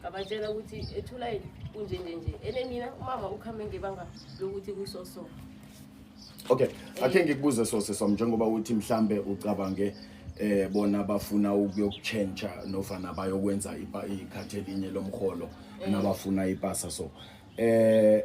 ngabatshela ukuthi ethulayi kunjenjenje ene mina umama ukhambe ngebanga lokuthi kusoso okay akhe ngikubuze sose som njengoba uthi mhlambe ucabange eh bona bafuna ukuyokutshentsha nofana bayokwenza ikhathi elinye lomholo eh. nabafuna ipasa so eh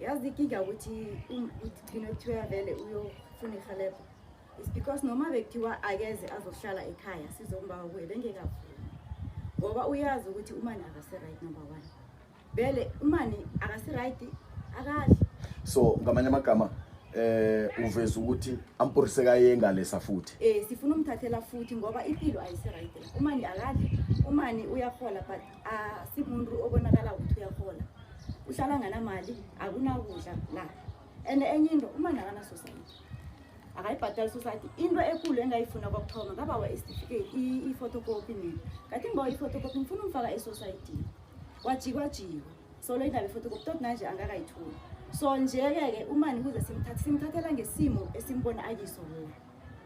yazi ikinga ukuthi um, ugcine kuthiwa vele uyofuna ihelebho is because noma bekuthiwa akeze azohlala ekhaya sizombawa kuye bengekavumi ngoba uyazi ukuthi umani akasiright number one vele umani akasiright akadli so ngamanye amagama eh uveza ukuthi amporise kayengalesa futhi eh sifuna umthathela futhi ngoba impilo ayisiright umani akadli umani uyahola but asimuntu obonakala ukuthi uyahola uhlala nganamali akunakudla la and enye into uma nakanasosayiti akayibhadali society into ekulu engayifuna kwakuthoma ngabawa isitifiketi i-photocopy mina kathi ngibawa i-photocopy ngifuna umfaka esociety wajikwajiwa solo indaba i-photocopy tot nanje angakayitholi so nje-ke-ke umani kuze simthathe simthathela ngesimo esimbona akiso wona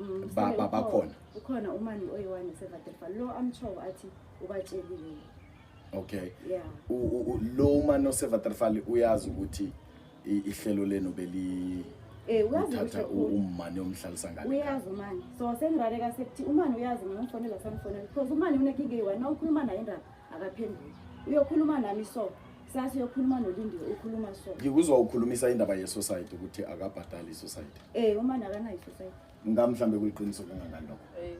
mm, bakhona ukhona umani oyiwani sevadefa lo amtshowo athi ubatshelile okay yeah lo umani osevatrefali uyazi ukuthi ihlelo lenu beli Eh uyazi ukuthi umani omhlalisa ngale. Uyazi umani. So sengirareka sekuthi umani uyazi mina ngifonela samfonela because umani unekinga eyi wena ukhuluma naye indaba. akaphenduli uyokhuluma nami so sasi uyokhuluma nolindiwe ukhuluma so ngikuzwa ukhulumisa indaba yesociety ukuthi akabhadali isociety um umani akanayo isociety nga mhlawumbe kuliqiniso kangangani lokho eh,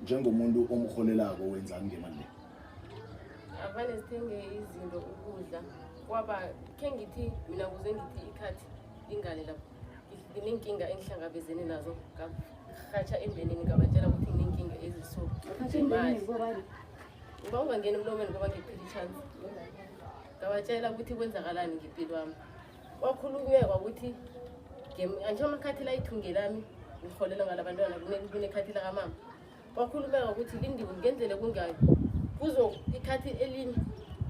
njengomuntu omrholelako wenzani ngemali le avane sithenge izinto ukudla kwaba khe ngithi mina kuze ngithi ikhathi lingane lapho nginenkinga engihlangabezene nazo ngahatsha embenini ngabatshela ukuthi nginenkinga eziso Uba ungangeni emlomeni ngoba ngiphila ichance. Ngabatshela ukuthi kwenzakalani ngempilo wami. Kwakhulunyekwa ukuthi angisho amakhathi la ithunge lami ngiholelwa ngala bantwana kunekhathi lakamama. Kwakhulumeka ukuthi lindiwe ngenzele kungayo. Kuzo ikhathi elinye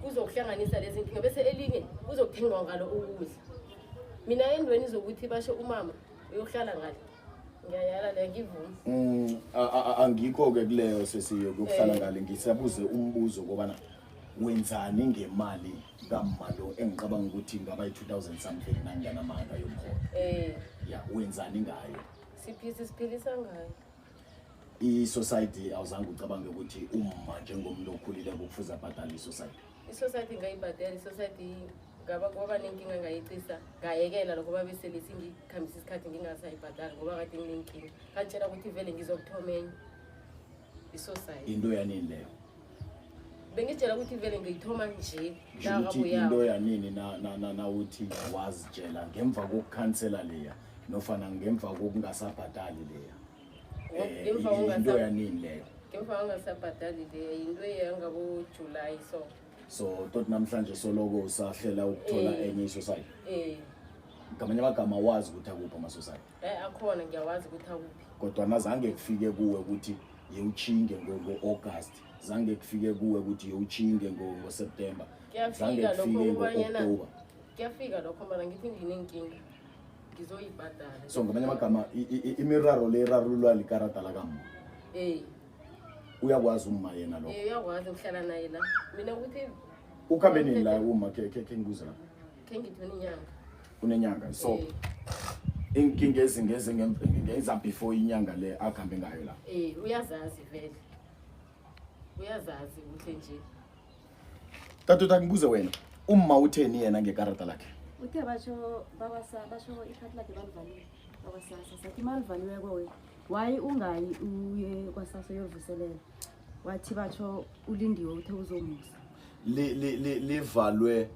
kuzokuhlanganisa lezi nkinga bese elinye kuzokuthengwa ngalo ukudla. Mina endweni zokuthi basho umama uyohlala ngale. Mm, angikho-ke kuleyo sesiyo kuyokuhlala eh. ngale ngisabuze umbuzo kobana wenzani ngemali kamalo engicabanga ukuthi ngaba yi-two thousand something nanganamanga yomholo eh. ya wenzani ngayo siphisa siphilisa ngayo i-society awuzange ucabange ukuthi uma njengomuntu okhulile kufuze abhadale i-society isociety ngayibhadela isociety ngaba kwaba nenkinga ngayicisa ngayekela lokho babesele singikhambisa isikhathi ngingasayibhadali ngoba kade nginenkinga ngangitshela ukuthi vele ngizokuthoma enye isociety into yanini leyo bengitshela ukuthi vele ngiyithoma nje into yanini nawuthi wazitshela ngemva kokukhansela leya nofana ngemva kokungasabhadali leya ngemva ungasabhadali le yinto eyangabojulayi so so tot namhlanje soloko usahlela ukuthola eh. enye isosayi eh. ngamanye amagama awazi ukuthi akuphi amasosayi eh, akhona ngiyawazi ukuthi akuphi kodwa nazange kufike kuwe ukuthi yewutshinge ngo-august zange kufike kuwe ukuthi yewutshinge ngoseptemba zange kufike ngo-oktoba kuyafika lokho mana ngithi nginenkinga ngizoyibhadala so ngamanye amagama imiraro le irarululwa likarata lakamma ey uyakwazi umma yena lokho uyakwazi ukuhlala naye la mina ukuthi ukhambe nini la uma khe khe khe ngibuze lapho khe ngithi unenyanga unenyanga so inkinga ezingeze ngenza before inyanga le akuhambe ngayo la eh uyazazi vele uyazazi ukuthi nje Tatuta ngibuze wena, umma utheni yena ngekarata lakhe? Uthe basho babasa basho ikhati lakhe balivalile. Babasasa sathi malivaliwe kowe. Wayi ungayi uye kwasasa uyovuselela. Wathi basho ulindiwe uthe uzomusa. Li li li livalwe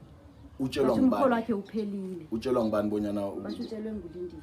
utshelwa Basho umkholo ngubani? wakhe uphelile. Utshelwa ngubani bonyana u- Basho utshelwe ngulindiwe.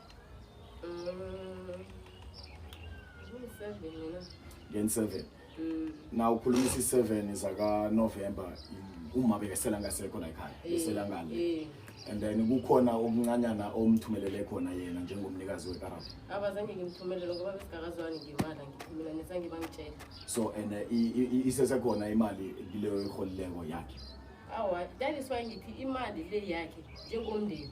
Gen 7. Now ukhuluma isi 7 zaka November uma bekesela ngasekho la ekhaya. Besela ngale. And then kukhona okuncanyana omthumelele khona yena njengomnikazi wekarabo. Abazange ngimthumelele ngoba besigakazwani ngimala ngithumela nesange bangitshela. So and uh, i- i- i- isesekhona imali leyo iholileko yakhe. Awa, that is why ngithi imali le yakhe njengomndeni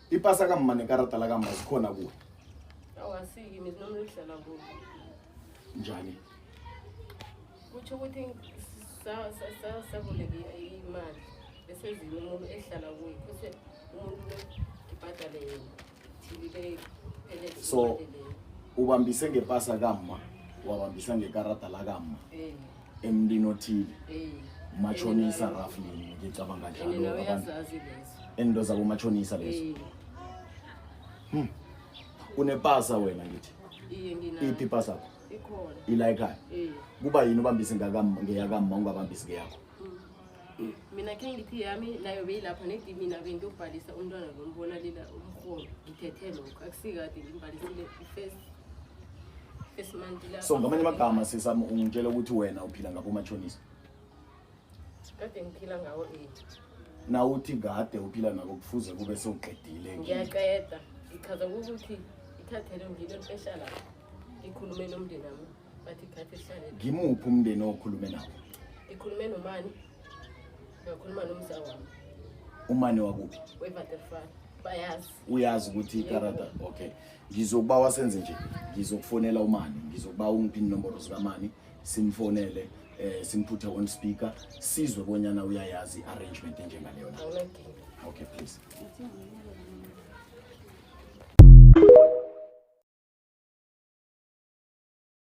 Ipasa ka mma nekarata la ka mma zikhona kuwe. Awasiki mina noma uhlala kuwe. Njani? Kuthi ukuthi sa sa sa sabuleke imali bese zini umuntu ehlala kuwe. Kuse umuntu ibhadale yena. Thibile phelele. So ubambise ngepasa ka mma wabambisa ngekarata la ka mma. Eh. emntini othile mashonisa roughly ngicabanga njalo abantu ento zabo mashonisa lezo hmm. unepasa wena ngithi iphi ipasa yakho ikhona ilayikhayo kuba yini ubambise ngeyakama ungabambisi ngeyakho mina khe ngithi yami nayo beyilapha nedi mina bengiyobhalisa umntwana lo mbona lela umholo ngithethe lokho akusikade ngimbhalisile i-first first month la so ngamanye amagama sisami ungitshela ukuthi wena uphila ngabo umashonisa kade ngiphila ngawo eight na uthi kade uphila nako kufuze kube sewuqedile ngiyaqeda ngichaza ukuthi ithathele ngilo lipesha lapho ngikhulume nomndeni wami Bathi khathi sihlale. ngimuphi umndeni okhulume nawo Ngikhulume nomani. Ngakhuluma nomza wami. umane wakuphi Wevaterfan. Bayazi. uyazi ukuthi ikarata okay ngizokuba wasenze nje ngizokufonela umani ngizokuba ungiphi inomboro zikamani simfonele eh simphuthe on speaker sizwe bonyana uyayazi arrangement enjengaleyo na Awunankinga. okay please